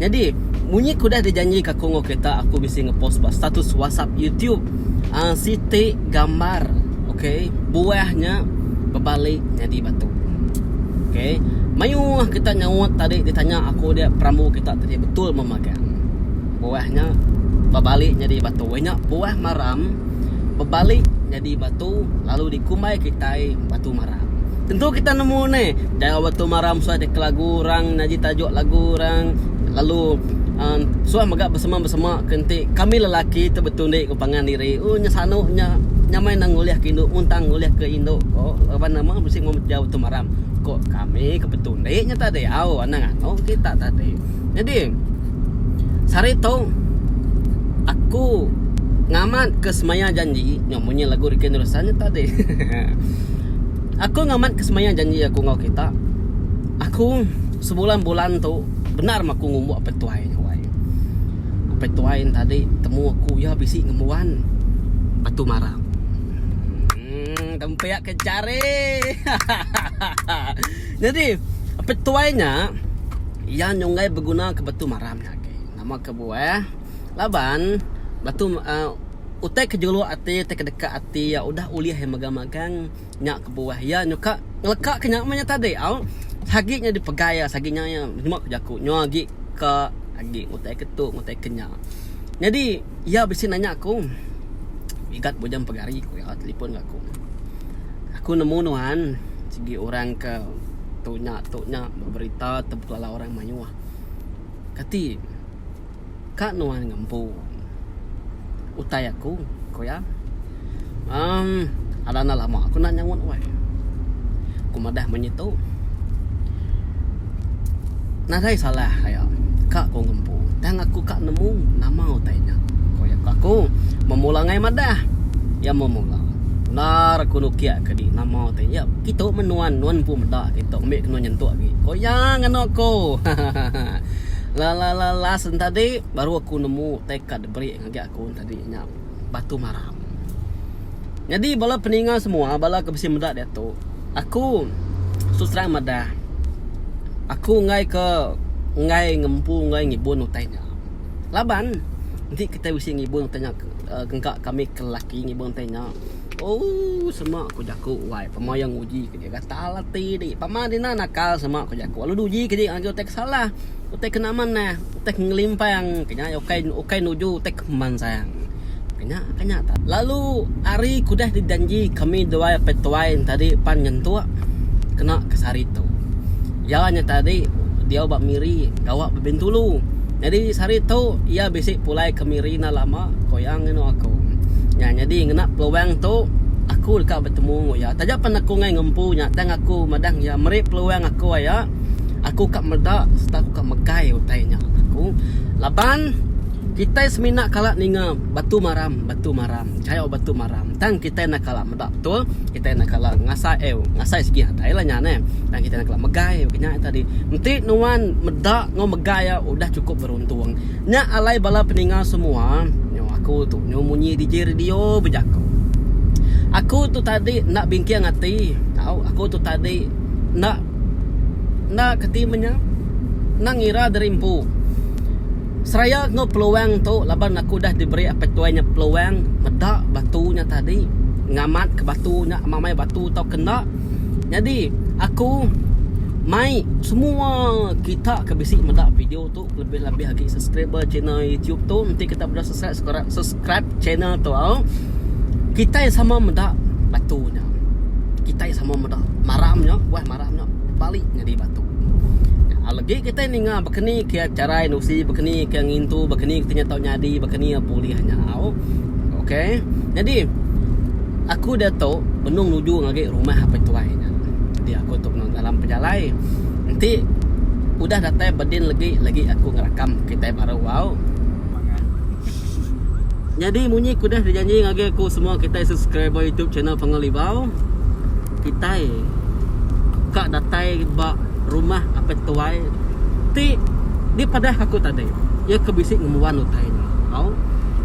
Nyadi, munyi ku udah dijanji ka Kongo kita aku bisi ngepost ba status WhatsApp YouTube uh, siti gambar okey buah nya bebali nyadi batu. Okey. Mayuh kita nyaut tadi ditanya aku dia perambu kita tadi betul memagang. Buah nya bebali nyadi batu. Nya buah maram bebali nyadi batu lalu dikumbai kitai batu maram. Tentu kita nemu ni jauh ba tu maram suah deka lagu orang nyaji tajuk lagu orang lalu uh, suah mega besema-besema ke enti kami lelaki tu betundi ku pangan diri oh nya sanu nya nya meh nang ngulih ke indu mun tang ngulih ke indu ko laban nama bisi meh jau tu maram ko kami ke betundi nya ta diau anang anok kita tadi jadi sehari tu aku ngamat ke semaya janji. Munyi lagu Ricky Nurusan nya tadi. aku ngamat ke semayang janji aku ngau kita. Aku sebulan-bulan tu benar mah aku ngumbuk apai tuai nya wai. Apai tuai tadi temu aku ya bisi ngembuan batu mara. Hmm, tempiak ke jari. Jadi, apai tuai nya iya nyunggai beguna ke batu mara nya agei. Nama ke buah? Laban, batu utai ke juluk ati utai ke deka ati iya udah ulih iya megang-megang nya kebuah iya nyuka ngeleka ke nya meh nya tadi au sagi nya dipegai iya sagi nya nyema ku jaku nyau agi ke agi utai ke tu utai ke nya. Nyadi iya bisi nanya aku igat bujang pegari ku iya telefon ga aku. Aku nemu nuan sigi orang ke tu nya tu nya beberita tebuk lala orang mayuh. Kati. Ka nuan ngempu utai aku, ku iya. Emm, ada enda lama aku enda nyaut weh. Ku madah munyi tu. Nadai salah aya ka ku ngempu tang aku ka nemu nama utai nya, ku iya. Ku aku memula angai madah. Iya memula. Endar aku nukik ke di nama utai nya. Kitu meh nuan, nuan empu meda kitu. Ambi ke nuan nyentuk agi, ku iya ngena aku. Hahaha. Lalalalas entadi baru aku nemu teka diberi ngagai aku entadi nya batu maram. Nyadi bala peninga semua bala ke bisi meda diatu aku terus terang madah aku enggai ke enggai ngempu enggai ngibun utai nya laban enti kitai bisi ngibun utai nya engka kami ke lelaki ngibun utai nya ooh sema ku jaku wai pemayan nguji. Ke gatal ati di. Pama dina nakal sama ku jaku lalu uji ke agi utai ke salah. Utai ke nama neh. Utai ke ngelimpang ke nya ukai nuju utai ke pemansang. Ke nya ke nya tadi. Lalu ari ke udah di janji kami duai petuai enti tadi pan nyentuk kena ke sehari tu. Iya nya tadi diau ba Miri gawa ba Bintulu. Nyadi sehari tu iya bisi pulai ke Miri enda lama, ku iya ngenu aku. Nya nyadi ngena peluang tu aku deka betemu enggau iya. Taja pen aku enggai ngempu nya tang aku madah iya meri peluang aku aya aku ka meda sereta aku ka megai utai nya aku laban kitai semina kala ninga Batu Maram, Batu Maram, chayau Batu Maram tang kitai enda kala. Ba betul kitai enda kala ngasai eh ngasai sigi atai lah nya neh. Tang kitai enda kala megai ke nya tadi. Enti nuan meda enggau megai iya udah chukup beruntung. Nya alai bala peninga semua nyo aku tu nyo munyi DJ radio bejako. Aku tu tadi enda bingking ati tau aku tu tadi enda enda kati menya enda ngira diri empu. Seraya enggau peluang tu laban aku udah diberi Apai Tuai nya peluang meda batu nya tadi ngamatka batu nya sama mai batu tauka enda nyadi aku mai semua kita ke bisi meda video tu kelebih labih agi subscriber channel YouTube tu enti kita meda subscribe channel tu kitai sama meda batu nya kitai sama meda maram nya buah maram. Bah nya bali nyadi batu. Alegi kita ninga bakani ke cara indusi, bakani ke ngintu, bakani ke nya tau nyadi, bakani apo ulih nyau. Okey. Nyadi aku diatu benung nuju ngagai rumah apai tuai nya. Jadi aku tu benung dalam pejalai. Enti udah datai bedin legi legi aku ngerakam kitai baru au. Nyadi munyi ku deh dijanji ngagai aku semua kitai subscriber YouTube channel Pangan Libau. Kitai ka datai ba rumah Apai Tuai ti dipadahka aku tadi. Iya ke bisi ngembuan utai nya. Au.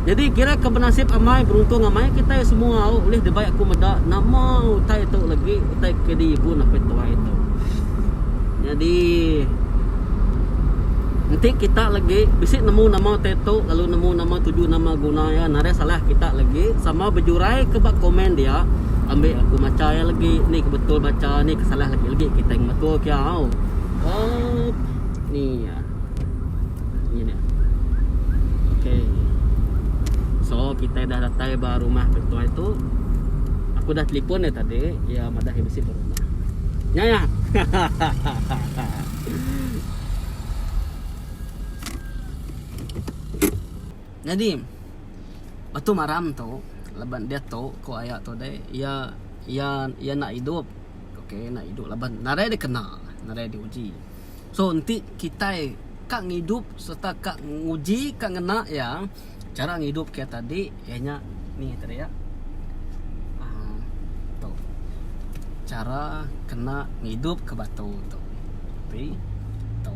Nyadi kira ke benasip amai, beruntung amai kitai semua au ulih dibai aku meda nama utai tu legi, utai ke diibun Apai Tuai tu. Nyadi enti kita legi bisi nemu nama utai tu lalu nemu nama tuju nama guna iya narai salah kita legi sama bejuraika ba komen dia. ambi aku macha iya lagi ni ke betul bacha ni ke salah lagi lagi kita yang betul kia au oh ni ya ni ni okey so kita dah datai ba rumah ketuai tu aku dah telefon dia tadi ya madah dia besi baru Ya ya. Nyadi Batu Maram tu laban diatu ko aya tu deh iya iya iya enda idup ok enda idup laban nadai dikena nadai di uji so enti kitai ka ngidup serta ka nguji ka ngena iya chara ngidup kitai tadi iya nya ni ngagai tadi iya uhh tu chara kena ngidup ke batu tu ok tu.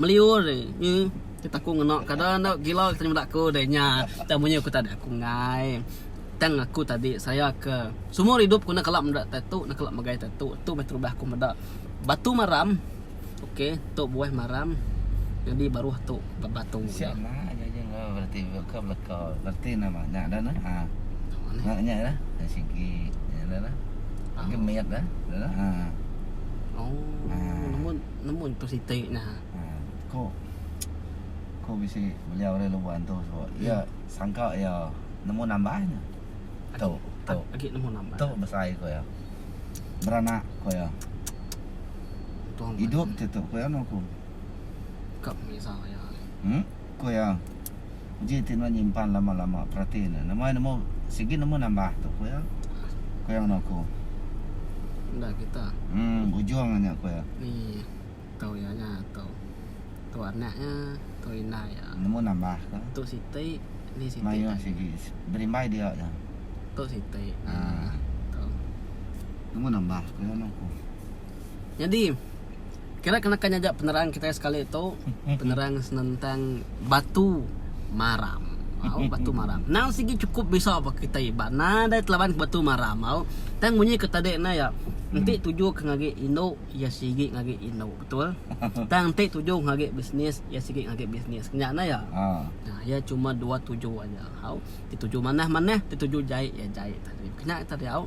meliur deh nyi kita ku ngena kada enda gila kita nyudak aku deh nya tang munyi aku tadi aku enggai tang aku tadi saya ke seumur idup ku enda kala meda tatu enda kala megai tatu tu meh terubah aku meda batu maram ok tu buah maram nyadi baruh tu batu oh. nemu tu siti nah hmm. ko ko bisi beliau le luban tu so hmm. ia sangka ia nemu nambah nya tu tu agi nemu nambah tu besai ko ia beranak ko ia hidup tu tu ko ia no ko kap misa ia hmm? Ku iya, Uji ti nuan nyimpan lama-lama, perati ne. Nama iya nemu sigi nemu nambah tu? Ku iya. Ku iya ngena aku. Enda kita. Em, ujung nya, ku iya. Ni tu iya nya tu. Tu anak iya, tu indai iya. Nemu nambah ke? Tu siti, ni siti. Mayuh sigi. Berimbai dia aja. Tu siti. Ha. Tu. Nemu nambah, ku iya ngena aku. Nyadi, Kira kena ka nyaga penerang kitai sekali tu penerang senentang batu maram. Au batu maram. Nang sigi chukup bisa ba kitai iba nadai telaban batu maram au. Tang munyi ke tadi nya ya enti tuju ke ngagi indu ya sigi ngagi indu betul. Tang enti tuju ngagi bisnis ya sigi ngagi bisnis kenya nya ya. Nah ya chuma dua tuju aja au. Ti tuju manah manah ti tuju jai ya jai tadi. Kenya tadi au.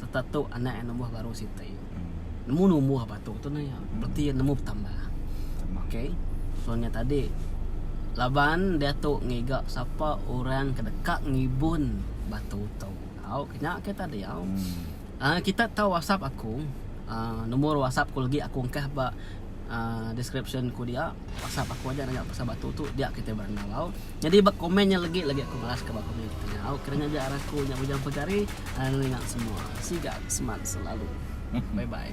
serta tu anak iya numbuh baru siti. Nemu numbuh batu tu naya. Bereti iya nemu betambah. Okey. So nya tadi laban diatu ngiga sapa orang ke deka ngibun batu tu. Au ke nya ke tadi au. Uh, kita tau WhatsApp aku. Uh, nombor WhatsApp ku lagi aku engkah ba uh, description ku dia. WhatsApp aku aja nanya pasal batu tu dia kitai berandau au. Nyadi ba komen nya legi legi aku malas ka ba komen kita nya. Au kena nya jar aku nya bujang pegari anak nengah semua. Sigat seman selalu. Bye bye.